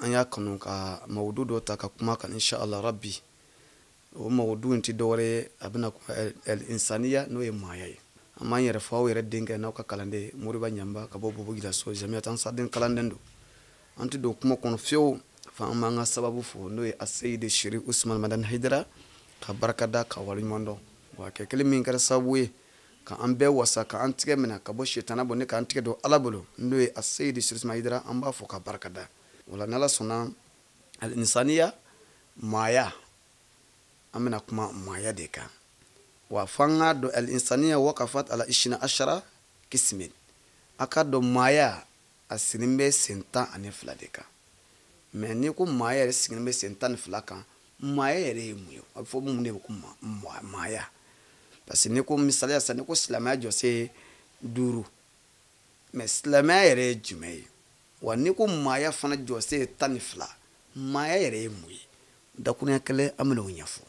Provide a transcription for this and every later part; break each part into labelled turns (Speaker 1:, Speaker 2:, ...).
Speaker 1: an y'a kanu ka mawudu dɔ ta ka kuma a kan inshallah rabbi o mawudu in ti dɔwɛrɛ ye a bɛna kuma el insaniya n'o ye maaya ye an b'an yɛrɛ fɔ aw yɛrɛ denkɛ n'aw ka kalanden moriba ɲamba ka bɔ bobo julaso jamiyatu ansardin kalanden don an ti don kuma kɔnɔ fiyewu fo an b'an ka sababu fo n'o ye aseyidi sherifu usman madani hayidara ka barika da ka waleɲuman dɔn wa kɛ kelen min kɛra sababu ye ka an bɛɛ wasa ka an tigɛ minɛ ka bɔ sitana bolo ni k'an tigɛ don ala bolo n'o ye aseyidi sherifu usman hayidara an b'a fo ka barika da o la n'ala sɔnna alinsaniya maaya an bɛna kuma maaya de kan wa fo an k'a dɔn alinsaniya wakafat ala isina ashara kismin a k'a dɔn maaya a sigilen bɛ sen tan ani fila de kan mais n'i ko maaya yɛrɛ sigilen bɛ sen tan ni fila kan maaya yɛrɛ ye mun ye a bɛ fɔ mun de ko maaya parce que n'i ko misaliya sisan n'i ko silamɛya jɔsen duuru mais silamɛya yɛrɛ ye jumɛn ye wa n'i ko maaya fana jɔsen tan ni fila maaya yɛrɛ ye mun ye dakuruɲɛ kelen an bɛn'o ɲɛfɔ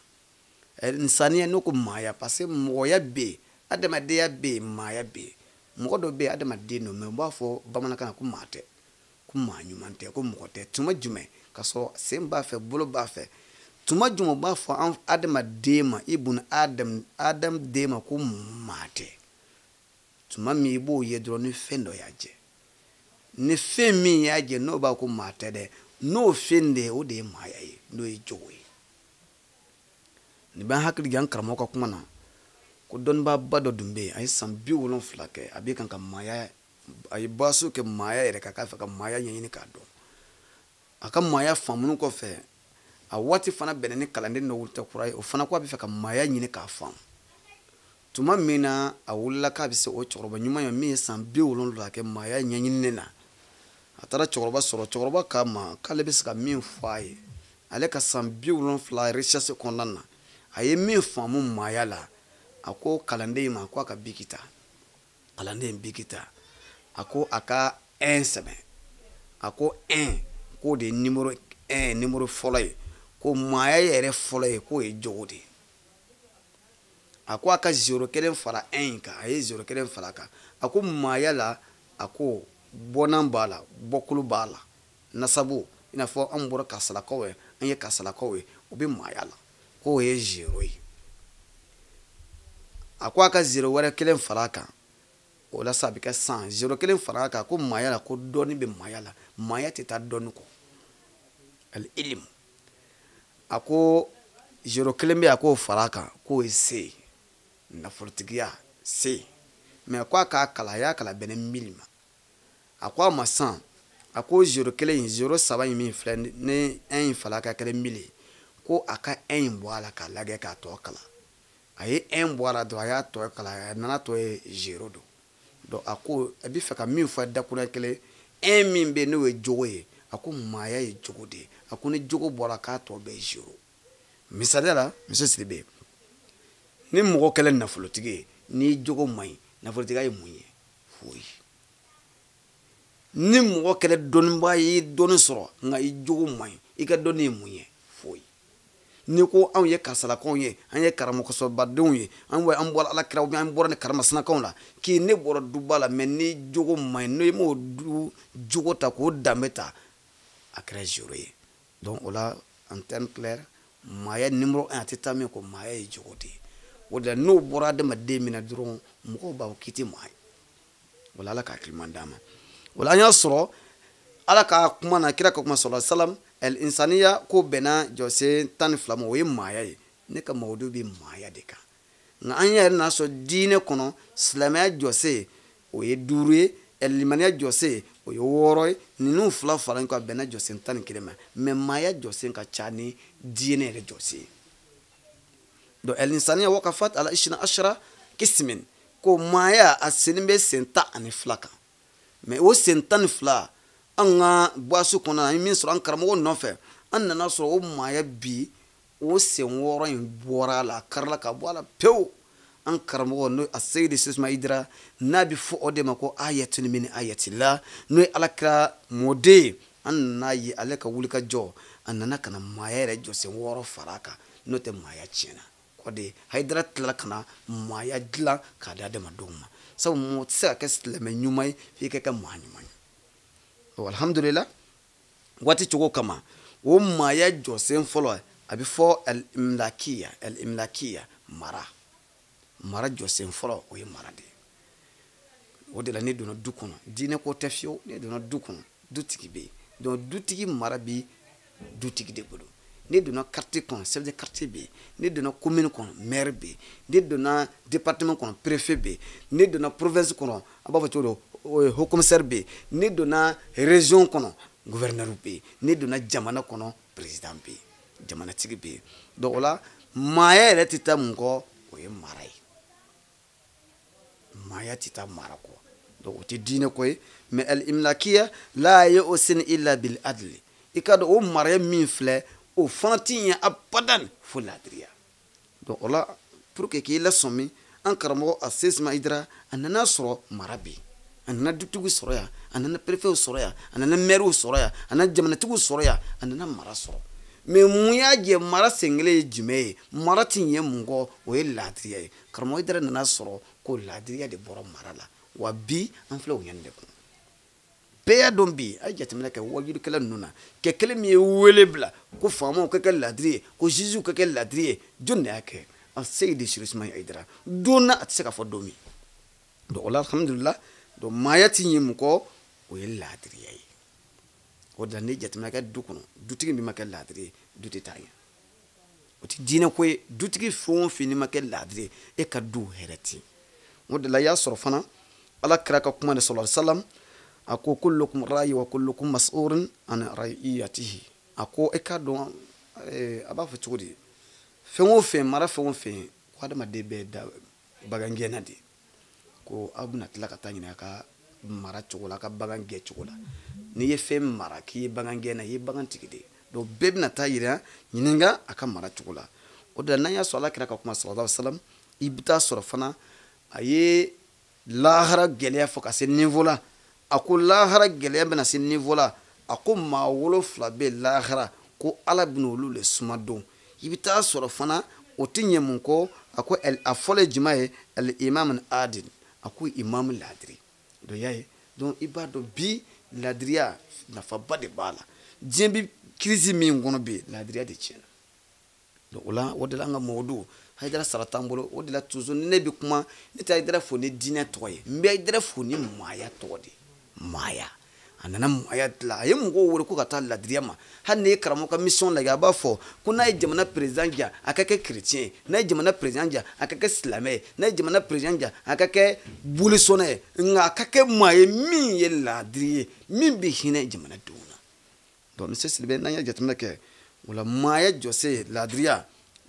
Speaker 1: eh, insaniya n'o ko maaya parce que mɔgɔya bɛ yen adamadenya bɛ yen maaya bɛ yen mɔgɔ dɔ bɛ yen adamaden don mais u b'a fɔ bamanankan na ko maa tɛ ko maa ɲuman tɛ ko mɔgɔ tɛ tuma jumɛn ka sɔrɔ sen b'a fɛ bolo b'a fɛ tuma jumɛn u b'a fɔ an adamaden ma ibun adam adam den ma ko maa tɛ tuma min i b'o ye dɔrɔn ni fɛn dɔ y'a jɛ ni fɛn min y'a jɛ n'o b'a ko maa tɛ dɛ n'o fɛn de ye o de ye maaya ye n'o ye jogo ye nin b'an hakili jigin an karamɔgɔ ka kuma na ko dɔnnibaaba dɔ tun bɛ yen a ye san bi wolonfila kɛ a bɛ kan ka maaya a ye baasu kɛ maaya yɛrɛ kan k'a fɛ ka maaya ɲɛɲini k'a dɔn a ka maaya faamunu kɔfɛ a waati fana bɛnna ni kalanden dɔ wulitɔ kura ye o fana ko a bɛ fɛ ka maaya ɲini k'a faamu tuma min na a wulila k'a bɛ se o cɛkɔrɔba ɲuman ye min ye san bi wolonwula kɛ maaya ɲɛɲinini na a taara cɛkɔrɔba sɔrɔ cɛkɔrɔba k'a ma k'ale bɛ se ka min fɔ a ye ale ka san bi wolonfila recherche kɔnɔna na a ye min faamu maaya la a ko kalanden ma ko a ka biki ta kalanden ye biki ta a ko a ka un sɛbɛn a ko un k'o de ye nimɔrɔ un nimɔrɔ fɔlɔ ye ko maaya yɛrɛ fɔlɔ ye k'o ye jogo de ye a ko a ka zero kelen fara un kan a ye zero kelen fara a kan a ko maaya la a ko bɔnna b'a la bɔkolo b'a la nasabu i n'a fɔ an bɔra kasalakaw ye an ye kasalakaw ye o bɛ maaya la k'o ye zero ye a ko a ka zero wɛrɛ kelen fara a kan o la sa a bɛ kɛ cent zero kelen fara a kan ko maaya la ko dɔnni bɛ maaya la maaya tɛ taa dɔnni kɔ al ilim a ko zero kelen bɛ a k'o fara a kan k'o ye se ye nafolotigiya se ye mɛ ko a k'a kalan a y'a kalan bɛnna mili ma a ko a ma san a ko zero kelen in zero saba in min filɛ ni ɛn in fala ka kɛra mili ye ko a ka ɛn in bɔ a la k'a lagɛ k'a tɔ kalan a ye ɛn bɔ a la dɔrɔn a y'a tɔ kalan a nana tɔ ye zero don donc a ko a bɛ fɛ ka min fɔ dakura kelen un min bɛ n'o ye jogo ye a ko maaya ye jogo de ye a ko ni jogo bɔra k'a tɔ bɛɛ ye zero misali la monsieur sidibe ni mɔgɔ kɛra nafolotigi ye n'i jogo man ɲi nafolotigiya ye mun ye foyi ni mɔgɔ kɛra dɔnnibaa ye dɔnni sɔrɔ nka i jogo man ɲi i ka dɔnni ye mun ye foyi n'i ko anw ye karisalakaw ye an ye karamɔgɔsobadenw ye an wa an bɔra ala kira ubiyɛn an bɔra ni karamasinakaw la k'i ne bɔra duba la mɛ n'i jogo man ɲi n'i m'o du jogo ta k'o danbe ta a kɛra zero ye donc o la en terme clair maaya nimoro un a tɛ taa min kɔ maaya ye jogo de ye o de la n'o bɔra adamaden min na dɔrɔn mɔgɔw b'a fɔ k'i tɛ maa ye wala ala k'a kiliman d'a ma wala an y'a sɔrɔ ala ka kuma na kira ka kuma sallallahu alaihi wasallam al insaniya ko bɛnna jɔsen tan ni fila ma o ye maaya ye ne ka mawudu bɛ maaya de kan nka an yɛrɛ n'a sɔrɔ diinɛ kɔnɔ silamɛya jɔsen o ye duuru ye limaniya jɔsen o ye wɔɔrɔ ye ninnu fila fara ɲɔgɔn kan bɛnna jɔsen tan ni kelen ma mɛ maaya jɔsen ka ca ni diinɛ yɛrɛ jɔsen ye donc alinsaniya wakafat ala isina ashara kismin ko maaya a senin bɛ sen tan ani fila kan mɛ o sen tan ni fila an ka buwaso kɔnɔ an ye min sɔrɔ an karamɔgɔ nɔfɛ an nana sɔrɔ o maaya bi o sen wɔɔrɔ in bɔra a la a karila ka bɔ a la pewu an karamɔgɔ n'o a seyidi sisuma hayidara n'a bɛ fɔ o de ma ko ayatun min ayatillah n'o ye alakira mɔden ye an nana ye ale ka wulikajɔ a nana ka na maaya yɛrɛ jɔsen wɔɔrɔ fara a kan n'o tɛ maaya tiɲɛna o de hayidara tilala ka na maaya dilan k'a di adamadenw ma sabu mɔgɔ tɛ se ka kɛ silamɛ ɲuman ye f'i ka kɛ maa ɲuman ye ɔ alihamudulila waati cogo kama o maaya jɔsen fɔlɔ a bɛ fɔ alimlakiya alimlakiya mara mara jɔsen fɔlɔ o ye mara de ye o de la ne donna du kɔnɔ diinɛ ko tɛ fiyewu ne donna du kɔnɔ dutigi bɛ yen donc dutigi mara bɛ dutigi de bolo ne donna quartier kɔnɔ chef de quartier bɛ yen ne donna commune kɔnɔ maire bɛ yen ne donna département kɔnɔ préfet bɛ yen ne donna province kɔnɔ a b'a fɔ cogo dɔ euh, haut commissaire bɛ yen ne donna région kɔnɔ gouverneur bɛ yen ne donna jamana kɔnɔ président bɛ yen jamanatigi bɛ yen donc o la maaya yɛrɛ tɛ taa mun kɔ o ye mara ye maaya tɛ taa mara kɔ donc o tɛ diinɛ ko ye mais al imlakiya la yusin illa bil adli i k'a dɔn o mara min filɛ o fana tɛ ɲɛ abadan fo laadiriya donc o la pour que k'i lasɔmi an karamɔgɔ aseyidi usumani hayidara a nana sɔrɔ mara bɛ yen a nana dutigi sɔrɔ yan a nana perefew sɔrɔ yan a nana mɛriw sɔrɔ yan a nana jamanatigiw sɔrɔ yan a nana mara sɔrɔ mais mun y'a jɛ mara senkelen ye jumɛn ye mara tɛ ɲɛ mun kɔ o ye laadiriya ye karamɔgɔ hayidara nana sɔrɔ ko laadiriya de bɔra mara la wa bi an filɛ o ɲɛni de kɔnɔ bɛɛ y'a dɔn bi a ye jateminɛ kɛ waajulikɛla ninnu na kɛ kelen min ye wele bila ko faamaw ka kɛ laadiri ye ko ziziw ka kɛ laadiri ye jɔni de y'a kɛ aseyidi serifu usumani hayidara don na a tɛ se ka fɔ don min donc o la alhamdulila donc maaya ti ɲɛ mun kɔ o ye laadiriya ye o de la n'i jateminɛ kɛ du kɔnɔ dutigi min ma kɛ laadiri ye du tɛ taa ɲɛ o tɛ diinɛ ko ye dutigi fɛn o fɛn n'i ma kɛ laadiri ye e ka du hɛrɛ tɛ o de la i y'a sɔrɔ fana ala kira ka kuma de sallallahu alaihi wasallam a ko kullukum rayi wa kullukum masulun an rayiyatihi a ko e k'a dɔn eh, a b'a fɔ cogo di fɛn o fɛn mara fɛn o fɛn ko adamaden bɛɛ da bagan gɛnna de ko aw bɛna tila ka taa ɲininka a ka mara cogo la a ka bagan gɛn cogo la n'i ye fɛn mara k'i ye bagan gɛnna i ye bagan tigi de ye donc bɛɛ bɛna taa yira ɲininka a ka mara cogo la o de la n'an y'a sɔrɔ ala kira ka kuma sallallahu alaihi wasallam i bɛ taa sɔrɔ fana a ye lahara gɛlɛya fɔ ka se niveau la a ko lahara gɛlɛya bɛna se niveau la a ko maa wolonfila bɛ lahara ko ala bɛna olu le suma don i bɛ taa sɔrɔ fana o tɛ ɲɛ mun kɔ a ko a fɔlɔ ye jumɛn ye al imam adil a ko imam laadiri dɔ y'a ye donc i b'a dɔn bi laadiriya nafaba de b'a la diɲɛ bi crise min kɔnɔ bi laadiriya de tiɲɛna donc o la o de la an ka mɔgɔ don hayidara sara t'an bolo o de la toujours ne bɛ kuma ne tɛ hayidara fo ni diinɛ tɔgɔ ye n bɛ hayidara fo ni maaya tɔgɔ de ye maaya a nana maaya dilan a ye mɔgɔw wele ko ka taa laadiriya ma hali n'i ye karamɔgɔ ka mission lajɛ a b'a fɔ ko n'a ye jamana président ja a ka kɛ chrétien ye n'a ye jamana président ja a ka kɛ silamɛ ye n'a ye jamana président ja a ka kɛ bolisɔnna ye nka a ka kɛ maa ye min ye laadiri ye min bɛ hinɛ jamanadenw na donc monsieur sidibe n'an ye jateminɛ kɛ o la maaya jɔsen laadiriya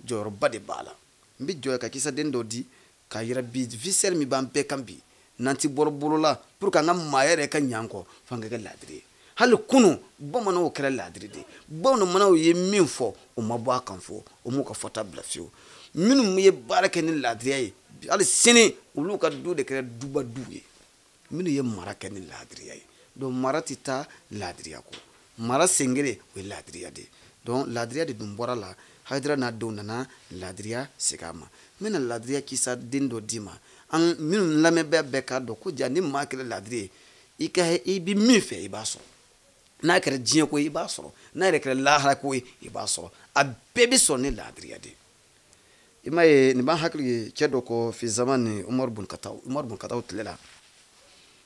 Speaker 1: jɔyɔrɔba de b'a la n bɛ jɔ ka kisaden dɔ di k'a yira bi misɛri min b'an bɛɛ kan bi n'an ti bɔrɔ bolola pour que an ka maaya yɛrɛ ka ɲɛ ko fo an ka kɛ laadiri ye hali kunun bamananw kɛra laadiri de bamananw ye min fɔ u ma bɔ a kan fo u m'u ka fɔta bila fiyewu minnu ye baara kɛ ni laadiriya ye hali sini olu ka du de kɛra duba du ye minnu ye mara kɛ ni laadiriya ye donc mara tɛ taa laadiriya kɔ mara sengere o ye laadiriya de ye donc laadiriya de dun bɔra la hayidara n'a denw nana laadiriya segin an ma n bɛna laadiriya kisa den dɔ d'i ma an minnu lamɛnbaa bɛɛ k'a dɔn ko ja ni maa kɛra laadiri ye i ka i bɛ min fɛ i b'a sɔrɔ n'a kɛra diɲɛ ko ye i b'a sɔrɔ n'a yɛrɛ kɛra lahara ko ye i b'a sɔrɔ a bɛɛ bɛ sɔrɔ ni laadiriya de ye i m'a ye nin b'an hakili ye cɛ dɔ kɔ fi zamani umaru bun katab umaru bun katab tile la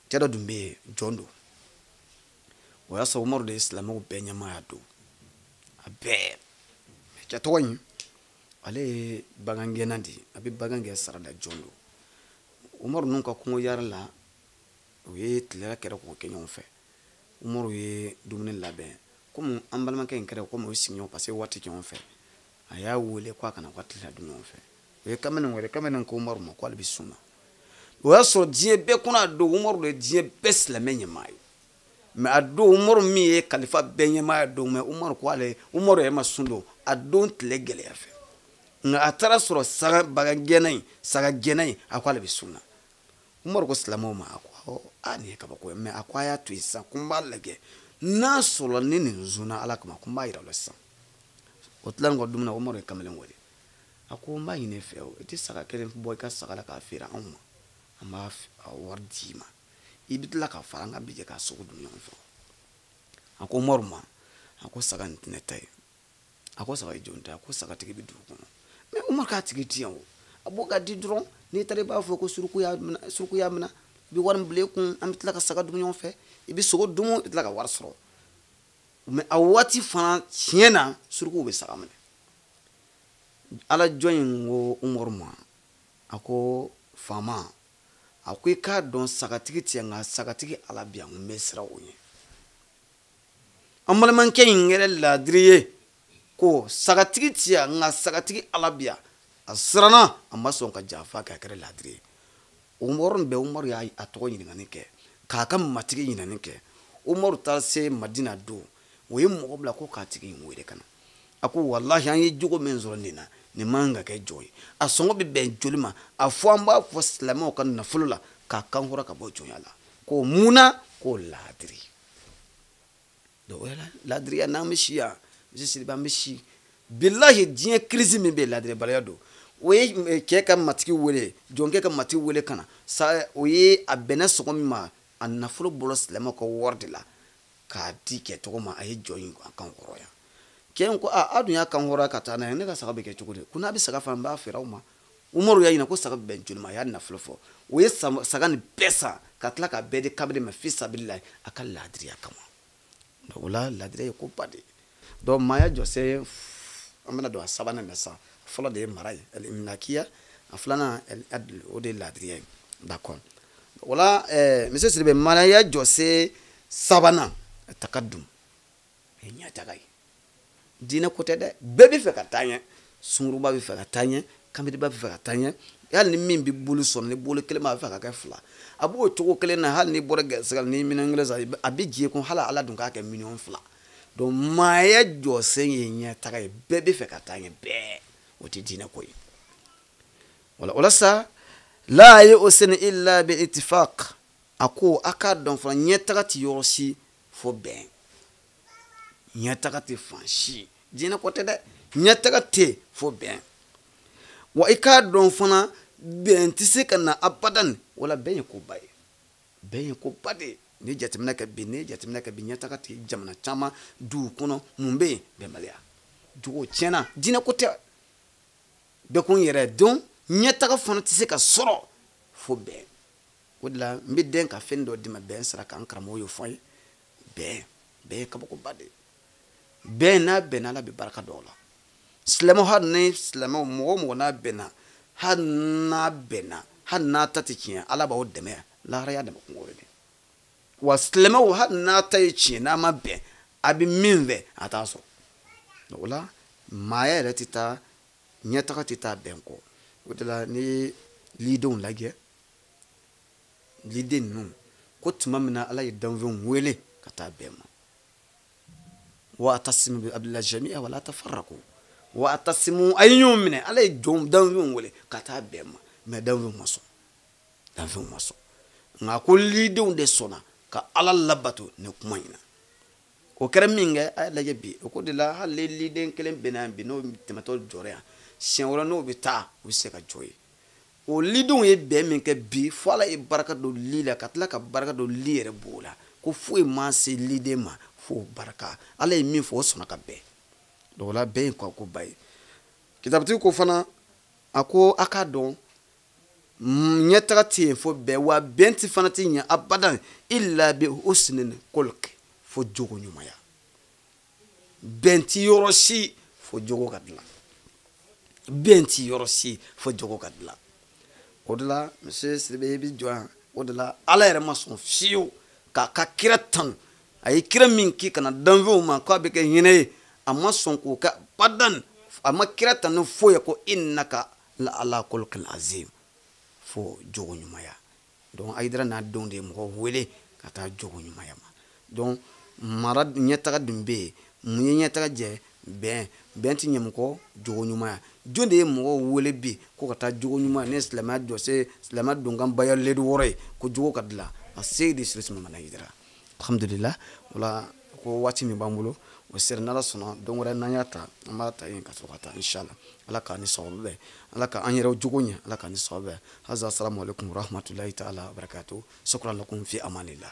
Speaker 1: cɛ dɔ tun bɛ yen jɔn don o y'a sɔrɔ umaru de ye silamɛw bɛɛ ɲɛmaaya don a bɛɛ cɛ tɔgɔ in ale ye bagan gɛnna de ye a bɛ bagan gɛn sarada jɔn don umaru ninnu ka kungo yaala la u ye tilela kɛra k'o kɛ ɲɔgɔn fɛ umaru ye dumuni labɛn komi an balimakɛ in kɛra komi o ye sigiɲɔgɔn parce que waati kɛ ɲɔgɔn fɛ a y'a wele ko a ka na ka tilela dun ɲɔgɔn fɛ u ye kamalen wele kamalen ko umaru ma ko ale bɛ sun na o y'a sɔrɔ diɲɛ bɛɛ kɔnɔ o don umaru de ye diɲɛ bɛɛ silamɛ ɲɛmaa ye mais o don umaru min ye kalifa bɛɛ ɲɛmaa don mais umaru ko ale umaru yɛrɛ ma sun don o don tile gɛlɛya fɛ nka a taara sɔrɔ saga bagan gɛnna in saga gɛnna in a ko ale bɛ sun na umaru ko silamɛw ma a ko a nin ye kabako ye mais a ko a y'a to yen sisan ko n b'a lajɛ n'a sɔrɔ ni nin sunna ala kama ko n b'a yira aw la sisan u tilalen kɔ dumuni na umaru ye kamalen wele a ko n b'a ɲini e fɛ o i tɛ saga kelen bɔ i ka saga la k'a feere anw ma an b'a wari d'i ma i bɛ tila ka fara an kan an bɛ jɛ k'a sogo dun ɲɔgɔn fɛ a ko umaru ma a ko saga nin tɛ ne ta ye a ko saga ye jɔn ta ye a ko sagatigi bɛ dugu kɔnɔ mais umaru k'a tigi tɛ yan o a bɔ k'a di dɔrɔn n'i taara i b'a fɔ ko suruku y'a minɛ suruku y'a minɛ i bɛ wari nin bila i kun an bɛ tila ka saga dun ɲɔgɔn fɛ i bɛ sogo dun i bɛ tila ka wari sɔrɔ mais a waati fana tiɲɛ na surukuw bɛ saga minɛ ala jɔn in ko umaru ma a ko faama a ko i k'a dɔn sagatigi tɛ yan nka sagatigi ala bɛ yan n bɛ siran o ɲɛ an balimakɛ in kɛra laadiri ye ko sagatigi tɛ yan nka sagatigi ala bɛ yan a siranna a ma sɔn ka janfa kɛ a kɛra laadiri ye o yɔrɔ bɛɛ umaru y'a tɔgɔ ɲininkali kɛ k'a ka matigi ɲininkali kɛ umaru taara se madina don o ye mɔgɔ bila ko k'a tigi in wele ka na a ko walahi an ye jogo min sɔrɔ nin na nin man kan ka kɛ jɔn ye a sɔngɔ bɛ bɛn joli ma a fɔ an b'a bɔ silamɛw ka nafolo la k'a kanhɔrɔnya ka bɔ jɔnya la ko mun na ko laadiri donc o laadiriya n'an bɛ si yan misiriba an bɛ si bilahi diɲɛ crise min bɛ yen laadiribaliya don u ye eh, cɛ ka matigi wele jɔnkɛ ka matigi wele ka na sa o ye a bɛnna sɔngɔ min ma a nafolo bɔra silamɛw ka wari de la k'a di cɛ tɔgɔ ma a ye jɔn in kanhɔrɔnya cɛ in ko a aw dun y'a kanhɔrɔnya ka taa n'a ye ne ka saga bɛ kɛ cogo di ko n'a bɛ saga fana n b'a feere aw ma umaru y'a ɲininka ko saga bɛn joli ma a y'a nafolo fɔ o ye saga nin bɛɛ san ka tila k'a bɛɛ di kabiri ma fi sabilillahi a ka laadiriya kama donc o la laadiriya ye ko ba de ye donc maaya jɔsen an bɛna don a sabanan na sisan fɔlɔ de ye mara ye aliminakiya a filanan al-adl o de ye laadiriya ye d'accord o la eh, monsieur sidibe maaya jɔsen sabanan takadum ye ɲɛtaga ye diinɛ ko tɛ dɛ bɛɛ bɛ fɛ ka taa ɲɛ sunguruba bɛ fɛ ka taa ɲɛ kanbelenba bɛ fɛ ka taa ɲɛ hali ni min bɛ bolo sɔrɔ ni bolo kelen b'a fɛ ka kɛ fila a b'o cogo kelen na hali n'i bɔra garisɛgɛ la ni miliyɔn kelen san a bɛ jɛ kun hali ala dun k'a kɛ miliyɔn fila donc maaya jɔsen ye ɲɛtaga ye bɛɛ bɛ fɛ ka taa ɲɛ bɛɛ o tɛ diinɛ ko ye wala o la sa la ye o seni illa bi itifaq a ko a k'a dɔn fana ɲɛtaga tɛ yɔrɔ si fo bɛn ɲɛtaga tɛ fan si diinɛ ko tɛ dɛ ɲɛtaga tɛ fo bɛn wa i k'a dɔn fana bɛn tɛ se ka na abadan wala bɛn ye koba ye bɛn ye koba de ye ni jateminɛ kɛ bi ni jateminɛ kɛ bi ɲɛtaga tɛ jamana caman duw kɔnɔ mun bɛ yen bɛnbaliya jogo tiɲɛna diinɛ ko tɛ bɛɛ ko n yɛrɛ don ɲɛtaga fana tɛ se ka sɔrɔ fo bɛn o de la n bɛ dɛn ka fɛn dɔ d'i ma bɛn sira kan n karamɔgɔ y'o fɔ n ye bɛn bɛn ye kabakoba de ye bɛn n'a bɛnna ala bɛ barika don u la silamɛw hali ni silamɛw mɔgɔ o mɔgɔ n'a bɛnna hali n'a bɛnna hali n'a ta tɛ tiɲɛ ala b'aw dɛmɛ lahara y'a dama kunko de wa silamɛw hali n'a ta ye tiɲɛ n'a ma bɛn a bɛ min fɛ a t'a sɔrɔ o la maaya yɛrɛ tɛ taa ɲɛtaga tɛ taa bɛn kɔ o de la n'i ye lidenw lajɛ liden ninnu ko tuma min na ala ye danfɛnw wele ka taa bɛn ma wa atasimu bi hablillahi jamiya wala tafarako wa atasimu a ye ɲɔgɔn minɛ ala ye jɔn danfɛnw wele ka taa bɛn ma mais danfɛnw ma sɔn danfɛnw ma sɔn nka ko lidenw de sɔnna ka ala labato ni kuma in na o kɛra min kɛ a y'a lajɛ bi o ko de la hali liden kelen bɛnna yan bi n'o tɛmɛtɔ jɔra yan siɲɛ wɛrɛ n'o bɛ taa u bɛ se ka jɔ yen o lidenw ye bɛn min kɛ bi fo ala ye barika don li la ka tila ka barika don li yɛrɛ b'o la ko foyi ma se liden ma fo barika ala ye min fɔ o sɔnna ka bɛn donc o la bɛn ye ko ba ye kitabutigi ko fana a ko a k'a dɔn ɲɛtaga tɛ yen fo bɛn wa bɛn ti fana tɛ ɲɛ abadan illa bi husnil khulqi fo jogo ɲumanya bɛn ti yɔrɔ si fo jogo ka dilan bɛn ti yɔrɔ si fo jogo ka dilan o de la monsieur siribe i bi jɔ yan o de la ala yɛrɛ ma sɔn fiyewu k'a ka kira tanu a ye kira min ki ka na danfɛnw ma k'a bɛ kɛ hinɛ ye a ma sɔn k'o kɛ badan a ma kira tanu foyi ye ko innaka la ala khuluqin azim fo jogo ɲumanya donc ayidara n'a denw de ye mɔgɔw wele ka taa jogo ɲumanya ma donc mara ɲɛtaga dun bɛ yen mun ye ɲɛtaga jɛ bɛn bɛn ti ɲɛ mun kɔ jogo ɲumanya jɔn de ye mɔgɔw wele bi ko ka taa jogo ɲumanya n'o ye silamɛya jɔsen silamɛya donkan baya layidu wɔɔrɔ ye ko jogo ka dilan aseyidi serifu usumana ayidara alhamdulila o la ko waati min b'an bolo o sera n'ala sɔnna don wɛrɛ n'an y'a ta an b'a ta yen ka sɔrɔ ka taa inshala ala k'an ni sababu bɛn ala ka an yɛrɛw jogo ɲɛ ala k'an ni sababu bɛn haza assalamu alaikum warahmatulahi taala wabarakatu shukran lakum fi amanillah